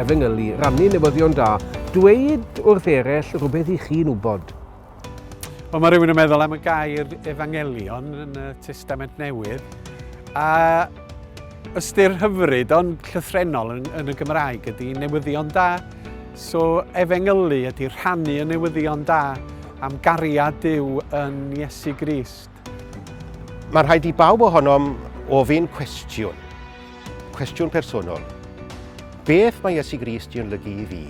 efengylu, rannu newyddion da, dweud wrth eraill rhywbeth i chi'n wybod. Wel, mae rhywun yn meddwl am y gair efangelion yn y Testament Newydd, a ystyr hyfryd ond llythrenol yn, yn y Gymraeg ydy newyddion da. So efengylu ydy rhannu y newyddion da am gariad Dyw yn Iesu Grist. Mae rhaid i bawb ohonom ofyn cwestiwn, cwestiwn personol. Beth mae Iesu Grist i olygu i fi?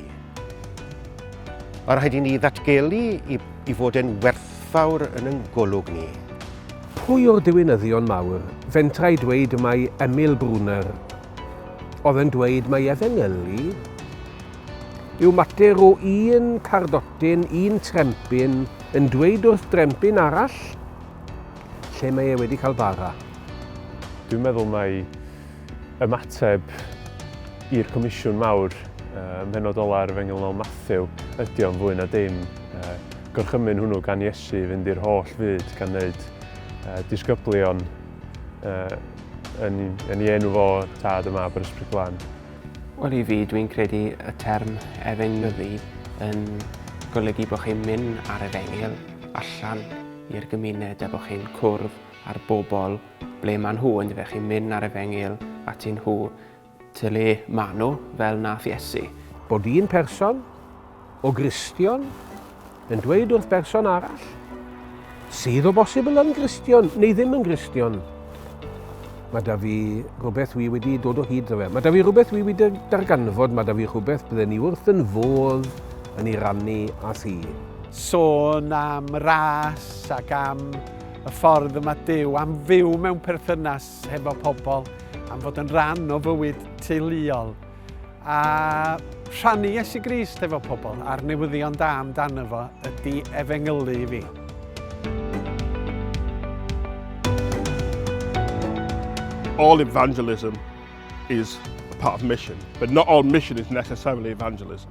Mae rhaid i ni ddatgelu i, i fod yn werthfawr yn yng golwg ni. Pwy o'r diwinyddion mawr fentra i dweud mai Emil Brunner oedd yn dweud mai efengylu yw mater o un cardotyn, un trempyn, Yn dweud wrth drempyn arall lle mae e wedi cael bara. Dwi'n meddwl mai ymateb i'r Comisiwn Mawr ym mhenodol ar Efengyl Noel Matthew ydi o'n fwy na dim. Gorchymyn hwnnw gan Iesu i fynd i'r holl fyd gan wneud disgyblion yn ei enw fo, Tad a Mab a'r Ysbryd Glân. Wel i fi, dwi'n credu y term efengyddu yn golygu bod chi'n mynd ar efengyl allan i'r gymuned a bod chi'n cwrdd â'r bobl ble maen nhw, yn fe chi'n mynd ar efengyl at nhw, ty le maen nhw, fel nath Iesu. Bod un person O Gristion yn dweud wrth berson arall, sydd o bosibl yn Gristion neu ddim yn Gristion, mae da fi rhywbeth wi wedi dod o hyd iddo fe. Mae da fi rhywbeth wi wedi darganfod, mae da fi rhywbeth bydden ni wrth yn fodd yn ei rannu a thi. Sôn am ras ac am y ffordd y mae Dyw am fyw mewn perthynas hefo pobl, am fod yn rhan o fywyd teuluol. A rhannu Iesu Grist efo pobl a'r newyddion da amdano fo ydy efengylu i fi. all evangelism is a part of mission, but not all mission is necessarily evangelism.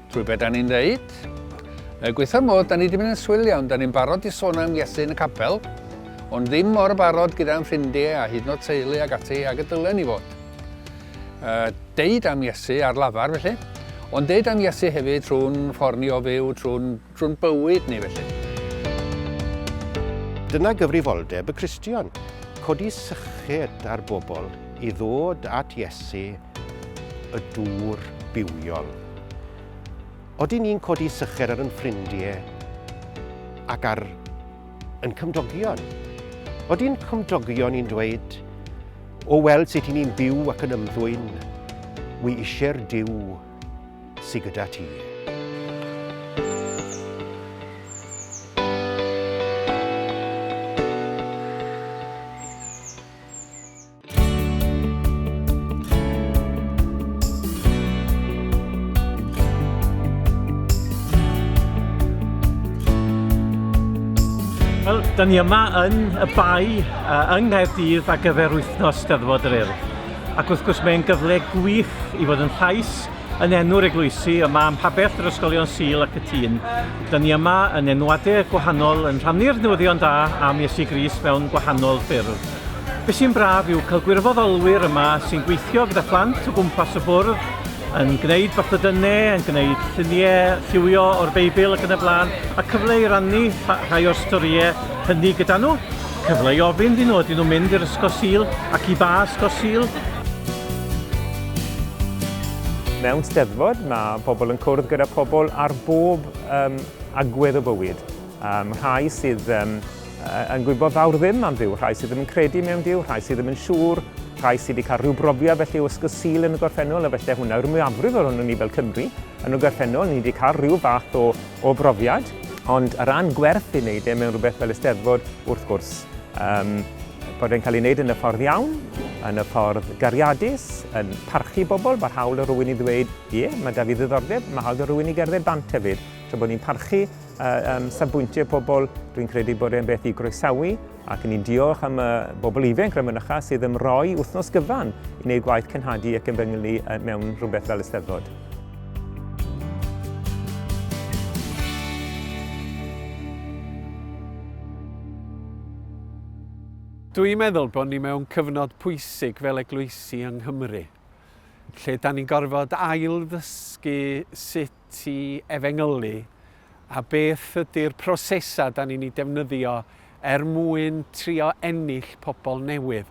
Trwy be' 'dan ni'n ddeud? Er gwaetha'r modd 'dan ni 'di mynd yn swil iawn, 'dan ni'n barod i sôn am Iesu yn y capel, ond ddim mor barod gyda'n ffrindie a hyd yn o'd teulu ag ati ag y dylen ni fod. Uh, deud am Iesu ar lafar felly, ond deud am Iesu hefyd trwy'n ffordd ni o fyw, trwy'n trwy bywyd ni felly. Dyna gyfrifoldeb y Cristion, codi syched ar bobl i ddod at Iesu y dŵr bywiol. Odyn ni'n codi sycher ar yn ffrindie ac ar yn cymdogion? Odyn cymdogion ni'n dweud, o weld sut i ni'n byw ac yn ymddwyn, wi isie'r Duw sy gyda ti. Wel, da ni yma yn y bai uh, yng Nghaerdydd ar gyfer wythnos Steddfod yr Urdd. Ac wrth gwrs mae'n gyfle gwych i fod yn llais yn enw'r eglwysi yma am pabell yr ysgolion Sil ac y tîn. Da ni yma yn enwadau gwahanol yn rhannu'r newyddion da am Iesu Gris mewn gwahanol ffyrdd. Be sy'n braf yw cael gwirfoddolwyr yma sy'n gweithio gyda phlant o gwmpas y bwrdd, yn gwneud bathodynnau, yn gwneud lluniau lliwio o'r Beibl ac yn y blaen, a cyfle i rannu rhai o'r storïau hynny gyda nhw, cyfle i ofyn iddyn nhw ydyn nhw'n mynd i'r Ysgol Sul ac i ba Ysgol Sul. Mewn Steddfod mae pobl yn cwrdd gyda pobl ar bob um, agwedd o bywyd. Um, rhai sydd um, yn gwybod fawr ddim am Dduw, rhai sydd ddim yn credu mewn Duw, rhai sydd ddim yn siŵr, rhai sydd wedi cael rhyw brofiad felly o ysgol Sul yn y gorffennol, a felly hwnna yw'r mwyafrif ohono ni fel Cymru yn y gorffennol, ni wedi cael rhyw fath o, o brofiad. Ond ar ran gwerth i wneud e mewn rhywbeth fel Eisteddfod, wrth gwrs, um, bod e'n cael ei wneud yn y ffordd iawn, yn y ffordd gariadus, yn parchu bobl, mae'r hawl o rywun i ddweud, ie, mae da fi ddiddordeb, mae hawl o rywun i gerdded bant hefyd. Tra bod ni'n parchu Am safbwyntiau pobl, dwi'n credu bod e'n beth i groesawu ac yn i'n diolch am y bobl ifanc rhan mynycha sydd yn rhoi wythnos gyfan i wneud gwaith cenhadu ac yn fy nghynglu mewn rhywbeth fel Eisteddfod. Dwi'n meddwl bod ni mewn cyfnod pwysig fel eglwysi yng Nghymru, lle da ni'n gorfod ail-ddysgu sut ti efengylu a beth ydy'r prosesau da ni'n ei defnyddio er mwyn trio ennill pobl newydd.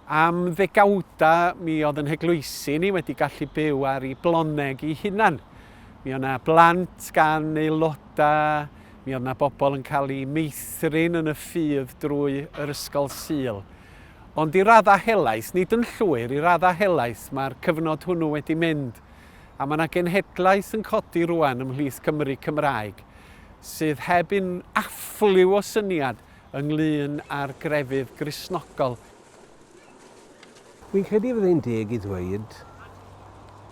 Am ddegawda mi oedd yn heglwysi ni wedi gallu byw ar ei bloneg i hunan. Mi oedd yna blant gan aelodau, mi oedd yna bobl yn cael ei meithrin yn y ffydd drwy yr ysgol syl. Ond i raddau helaeth, nid yn llwyr, i raddau helaeth mae'r cyfnod hwnnw wedi mynd. a mae 'na genhedlaeth yn codi rŵan ymhlith Cymry Cymraeg sydd heb un affliw o syniad ynglŷn â'r grefydd Gristnogol. Fi'n credu fydde hi'n deg i ddweud,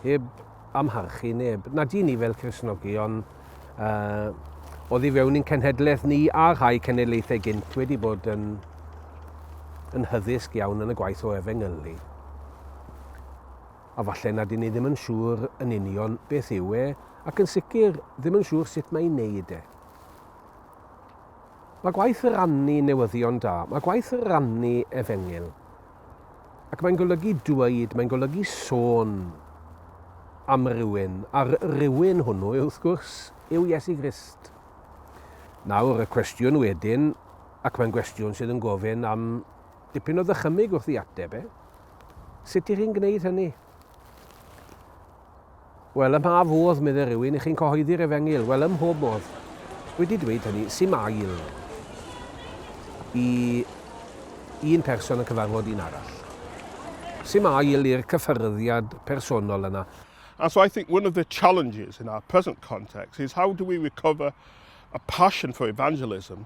heb amharchu neb, nad y'n ni fel Cristnogion yy oddi fewn i'n cenhedlaeth ni a rhai cenedlaethau gynt wedi bod yn yn hyddysg iawn yn y gwaith o efengylu. a falle na dyn ni ddim yn siŵr yn union beth yw e, ac yn sicr ddim yn siŵr sut mae i wneud e. Mae gwaith rannu newyddion da, mae gwaith rannu efengyl. Ac mae'n golygu dweud, mae'n golygu sôn am rywun, a'r rywun hwnnw, wrth gwrs, yw Iesu Grist. Nawr, y cwestiwn wedyn, ac mae'n gwestiwn sydd yn gofyn am Dipyn o ddychymyg wrth i ateb e. Sut i chi'n gwneud hynny? Wel, ym mha fodd, medde rhywun, i chi'n cyhoeddi'r efengyl? Wel, ym mhob modd. Wedi dweud hynny, sy'n ail i un person yn cyfarfod un arall. Sy'n ail i'r cyffyrddiad personol yna. And so I think one of the challenges in our present context is how do we recover a passion for evangelism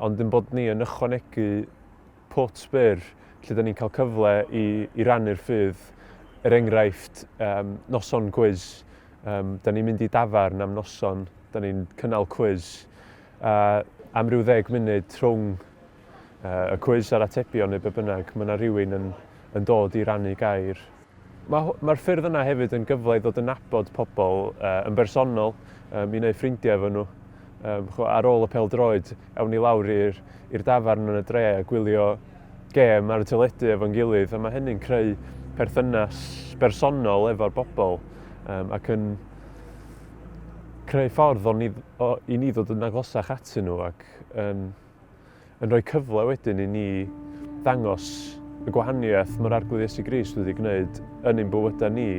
Ond ein bod ni yn ychwanegu pwt byr lle da ni'n cael cyfle i, i rannu'r ffydd, er enghraifft, um, noson cwiz. Um, da ni'n mynd i dafarn am noson, da ni'n cynnal cwiz. A am ryw ddeg munud rhwng uh, y cwiz a'r atebion neu be bynnag, mae yna rhywun yn, yn dod i rannu gair. Mae'r ffyrdd yna hefyd yn gyfle i ddod yn nabod pobl yn bersonol, i wneud ffrindiau efo nhw. Ar ôl y pêl-droed, awn ni lawr i'r dafarn yn y dre a gwylio gêm ar y teledu efo'n gilydd, a mae hynny'n creu perthynas bersonol efo'r bobl ac yn creu ffordd i ni ddod yn agosach atyn nhw ac yn rhoi cyfle wedyn i ni ddangos y gwahaniaeth mae'r Arglwydd Iesu Grist wedi gwneud yn ein bywydau ni.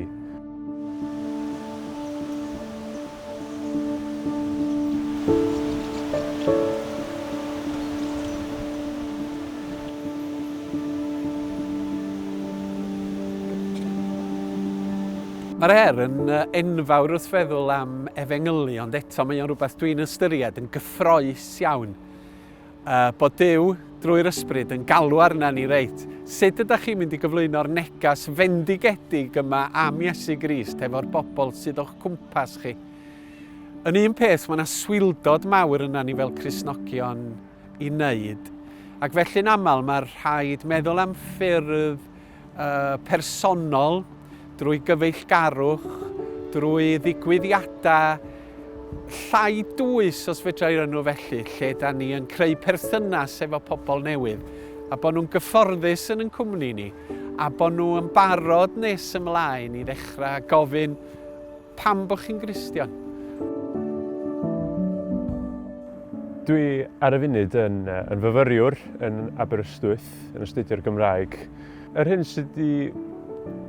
Mae'r her yn enfawr wrth feddwl am efengylu, ond eto mae o'n rhywbeth dwi'n ystyried yn gyffroes hapus iawn yy bod Duw, drwy'r ysbryd, yn galw arna ni reit. Sut ydych chi'n mynd i gyflwyno'r neges fendigedig yma am Iesu Grist hefo'r bobl sydd o'ch cwmpas chi? Yn un peth, mae yna swildod mawr yna ni fel Cristnogion i wneud, ac felly'n aml mae rhaid meddwl am ffyrdd personol, drwy gyfeillgarwch, drwy ddigwyddiadau llai dwys os fedrai rynnu felly, lle da ni yn creu perthynas efo pobl newydd, a bod nhw'n gyfforddus yn yn cwmni ni, a bod nhw yn barod nes ymlaen i ddechrau gofyn pam bod chi'n Gristion. Dwi ar y funud yn, yn fyfyriwr yn Aberystwyth byd yn astudio'r Gymraeg. Yr hyn sydd wedi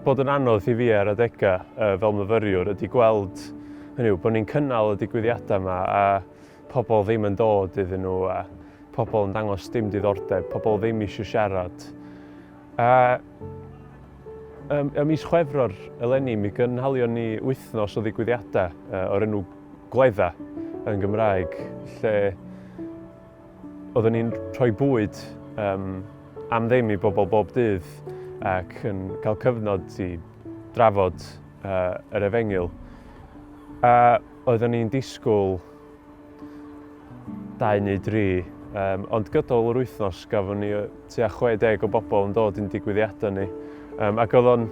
bod yn anodd i fi ar adegau uh, fel myfyriwr ydy gweld hynny yw bod ni'n cynnal y digwyddiadau yma a pobl ddim yn dod iddyn nhw a pobl yn dangos dim diddordeb, pobl ddim eisiau siarad. A ym, ym mis Chwefror eleni mi gynhalion ni wythnos o ddigwyddiadau uh, o'r enw Gwledda yn Gymraeg lle Oeddwn ni'n rhoi bwyd um, am ddim i bobl bob dydd ac yn cael cyfnod i drafod uh, yr efengyl. A oeddwn ni'n disgwyl dau neu dri, um, ond gydol yr wythnos gafon ni tua 60 o bobl yn dod i'n digwyddiadau ni. Um, ac oedd o'n,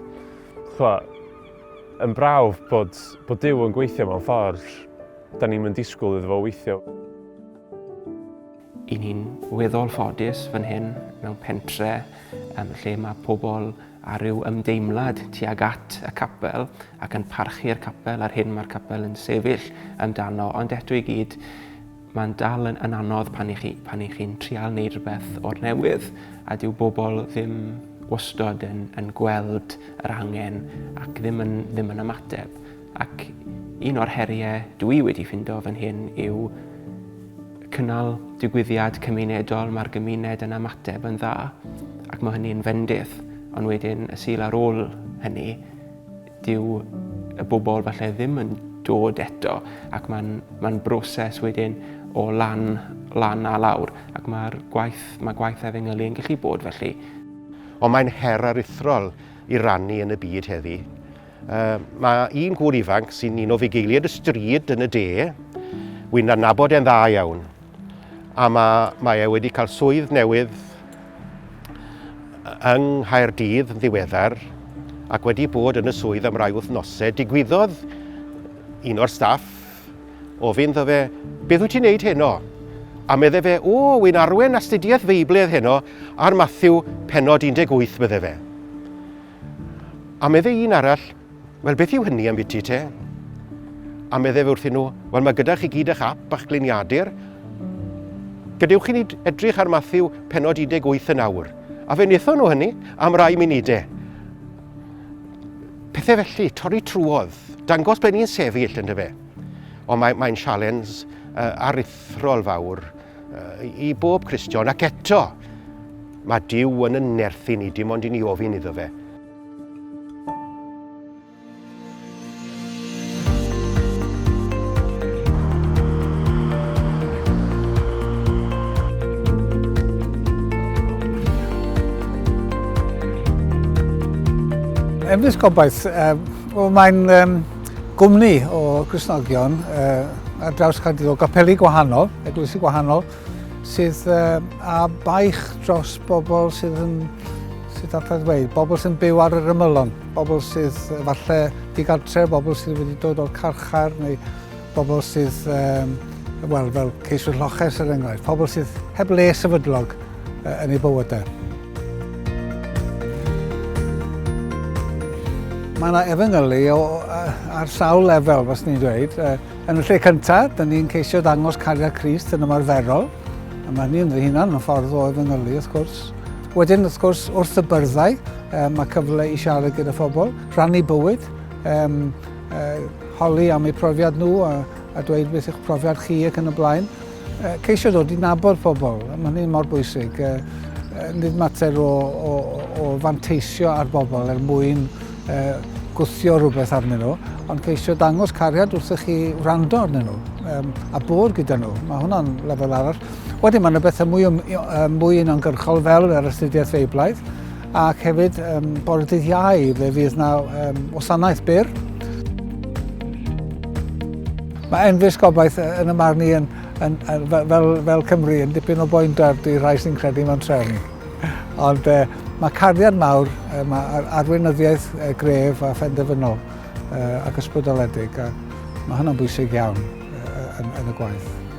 yn brawf bod, bod Dyw yn gweithio mewn ffordd, da ni'n mynd disgwyl iddo fo weithio. I ni'n weddol ffodus fan hyn mewn pentre um, lle mae pobl a rhyw ymdeimlad tuag at y capel ac yn parchu'r capel a'r hyn mae'r capel yn sefyll amdano. Ond eto i gyd, mae'n dal yn, yn anodd pan i chi, pan i chi'n trial wneud rhywbeth o'r newydd a dyw bobl ddim wastod yn, yn gweld yr angen ac ddim yn, ddim yn ymateb. Ac un o'r heriau dw i wedi ffindo fan hyn yw cynnal digwyddiad cymunedol, mae'r gymuned yn ymateb yn dda ac mae hynny'n fendith. Ond wedyn y sul ar ôl hynny, dyw y bobl falle ddim yn dod eto ac mae'n ma broses wedyn o lan, lan a lawr ac mae'r gwaith, mae gwaith efengylu yn gallu bod felly. Ond mae'n her aruthrol i rannu yn y byd heddi. Uh, mae un gŵr ifanc sy'n un o fugeiliad y stryd yn y de, wy'n adnabod e'n dda iawn. A mae, mae e wedi cael swydd newydd yng Nghaerdydd yn ddiweddar ac wedi bod yn y swydd am rai wythnosau. Digwyddodd un o'r staff o fynd o fe, beth wyt ti'n neud heno? A medde fe, o, wy'n arwen astudiaeth feibledd heno ar Matthew penod 18, medde fe. A meddai un arall, Wel, beth yw hynny am biti te? A meddai fe wrthyn nhw, Wel, mae gyda chi gyd eich ap a'ch gliniadur. Gadewch i ni edrych ar Matthew penod 18 yn awr. A fe wnaethon nhw hynny am rai munudau. Pethau felly, torri trwodd, dangos ble ni'n sefyll yn dyfe. Ond mae'n mae sialens uh, aruthrol fawr i bob Cristion, ac eto, mae Dyw yn yn nerthu ni, dim ond i ni ofyn iddo fe. Efnys gobaith, uh, mae'n um, gwmni o Gristnogion uh, ar draws Caerdydd o gapeli gwahanol, eglwysi gwahanol, sydd uh, a baich dros bobl sydd yn sydd at ddweud, bobl sy'n byw ar yr ymylon, bobl sydd falle digartre, bobl sydd wedi dod o'r carchar neu bobl sydd um, wel, fel ceiswyr lloches er enghraifft, pobl sydd heb le sefydlog. yn eu bywydau. Mae yna efengylu ar sawl lefel, fas ni'n dweud. Yn y lle cyntaf, dyn ni'n ceisio dangos cariad Christ yn ymarferol. A mae hynny'n fy hunan yn ffordd o efengylu, wrth gwrs. Wedyn, wrth gwrs, wrth y byrddau, mae cyfle i siarad gyda phobl, rhannu bywyd, um, uh, holi am eu profiad nhw a, a dweud beth yw'ch profiad chi ac yn y blaen. Ceisio dod i nabod pobl, mae hynny mor bwysig. Nid mater o, o, o fanteisio ar bobl er mwyn gwthio rhywbeth arnyn nhw, ond ceisio dangos cariad wrthych chi wrando arnyn nhw um, a bod gyda nhw. Mae hwnna'n lefel arall. Wedyn mae yna bethau mwy, um, mwy unongyrchol fel yr astudiaeth feiblaidd, Ac hefyd, um, bore dydd iau, fe fydd na um, wasanaeth byr. Mae Enfys Gobaith yn y marn i yn, yn, yn, fel, fel Cymru yn dipyn o boendar i rai sy'n credu mewn trefn. Ond uh, Mae cariad mawr, mae arweinyddiaeth gref a phenderfynol ac ysbrydoledig, a mae hynny'n bwysig iawn yn, y gwaith.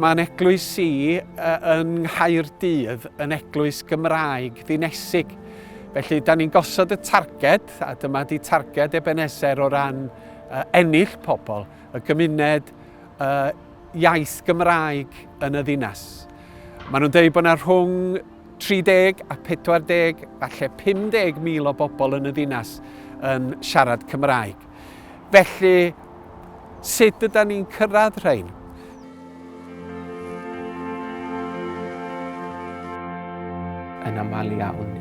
Mae'n eglwys i yn Nghaerdydd yn eglwys Gymraeg ddinesig. Felly, da ni'n gosod y targed, a dyma di targed Ebenezer o ran uh, ennill pobl, y gymuned uh, iaith Gymraeg yn y ddinas. Maen nhw'n dweud bod yna rhwng 30 a 40, falle 50 mil o bobl yn y ddinas yn siarad Cymraeg. Felly, sut yda ni'n cyrraedd rhain? Yn aml iawn,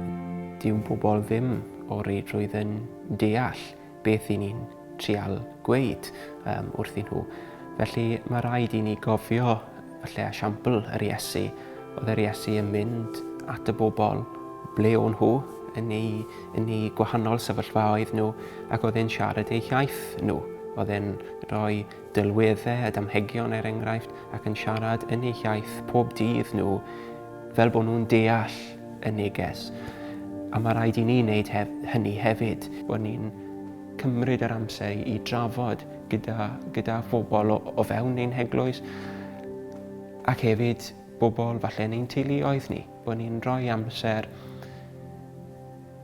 dyw pobl ddim o reidrwydd yn deall beth i ni'n trial gweud um, wrthyn nhw. Felly mae rhaid i ni gofio lle esiampl yr Iesu. Oedd yr Iesu yn mynd at y bobl ble o'n nhw, yn ei, yn ei gwahanol sefyllfaoedd nhw, ac oedd e'n siarad eu hiaith nhw. Oedd e'n rhoi Delweddau a damhegion er enghraifft ac yn siarad yn eu hiaith pob dydd nhw fel bod nhw'n deall y neges. A mae rhaid i ni wneud hef hynny hefyd, bod ni'n cymryd yr amser i drafod gyda, gyda phobl o, o fewn ein heglwys ac hefyd bobl falle yn ein teuluoedd ni, bod ni'n rhoi amser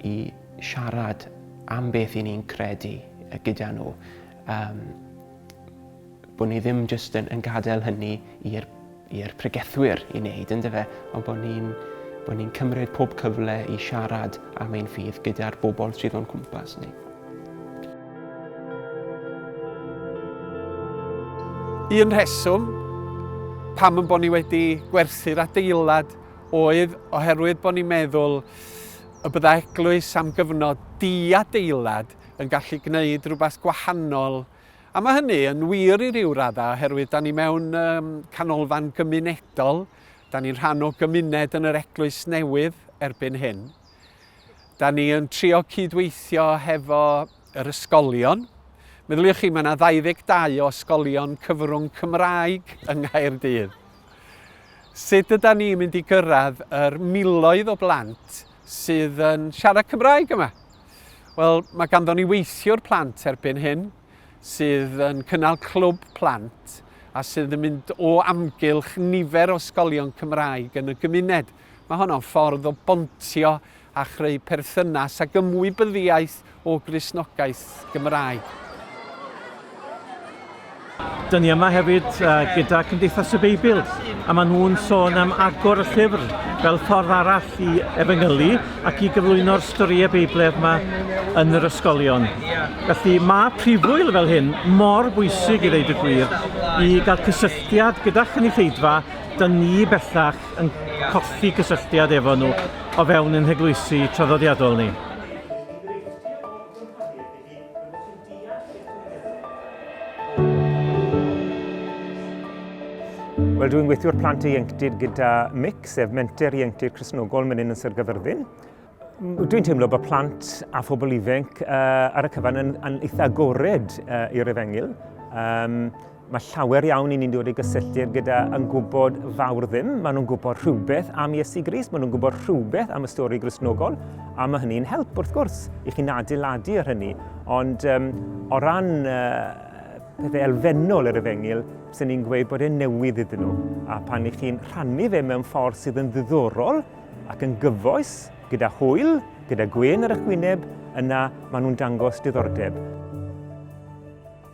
i siarad am beth i ni'n credu gyda nhw Yym, bod ni ddim jyst yn, yn gadael hynny i'r i'r pregethwyr i wneud, ynddo fe, ond bod ni'n bod ni'n cymryd pob cyfle i siarad am ein ffydd gyda'r bobl sydd o'n cwmpas ni. Un rheswm pam yn bod ni wedi gwerthu'r adeilad oedd oherwydd bod ni'n meddwl y bydda eglwys am gyfnod di-adeilad yn gallu gwneud rhywbeth gwahanol. A mae hynny yn wir i ryw raddau oherwydd da ni mewn um, canolfan gymunedol, da ni'n rhan o gymuned yn yr Eglwys Newydd erbyn hyn. Da ni yn trio cydweithio hefo yr ysgolion. Meddyliwch chi, mae yna 22 o ysgolion cyfrwng Cymraeg yng Nghaerdydd. Sut yda ni mynd i gyrraedd yr miloedd o blant sydd yn siarad Cymraeg yma? Wel, mae ganddo ni weithiwr plant erbyn hyn sydd yn cynnal clwb plant a sydd yn mynd o amgylch nifer o ysgolion Cymraeg yn y gymuned. Mae honno'n ffordd o bontio a chreu perthynas ac ymwybyddiaeth o grisnogaeth Gymraeg. Dyn ni yma hefyd uh, gyda Cymdeithas y Beibl, a maen nhw'n sôn am agor y llyfr fel ffordd arall i efengylu ac i gyflwyno'r storïau Beibledd yma yn yr ysgolion. Felly mae prifwyl fel hyn mor bwysig i ddeud y gwir i gael cysylltiad gyda chynulleidfa, dyn ni bellach yn colli cysylltiad efo nhw o fewn ein heglwysi traddodiadol ni. Wel, dwi'n gweithio'r plant ieuenctid gyda MIC, sef Menter Ieuenctid Cresnogol Menyn yn Sir Gyfyrddin. Dwi'n teimlo bod plant a phobl ifanc uh, ar y cyfan yn, yn eitha agored uh, i'r efengyl. Um, Mae llawer iawn i ni'n dod i gysylltiad gyda yn gwybod fawr ddim. Maen nhw'n gwybod rhywbeth am Iesu Gris, maen nhw'n gwybod rhywbeth am y stori grisnogol, a mae hynny'n help, wrth gwrs, i chi'n adeiladu ar hynny. Ond um, o ran uh, pethau elfennol yr efengyl, sy'n ni'n gweud bod e'n newydd iddyn nhw. A pan i chi'n rhannu fe mewn ffordd sydd yn ddiddorol ac yn gyfoes, gyda hwyl, gyda gwyn ar eich gwyneb, yna maen nhw'n dangos diddordeb.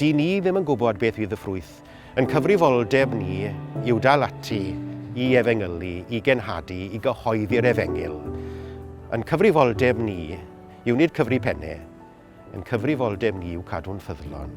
Dŷn ni ddim yn gwybod beth fydd y ffrwyth. Yn cyfrifoldeb ni yw dal ati i efengylu, i genhadu, i gyhoeddi'r efengyl. Yn cyfrifoldeb ni yw nid cyfri penne, yn cyfrifoldeb ni yw cadw'n ffyddlon.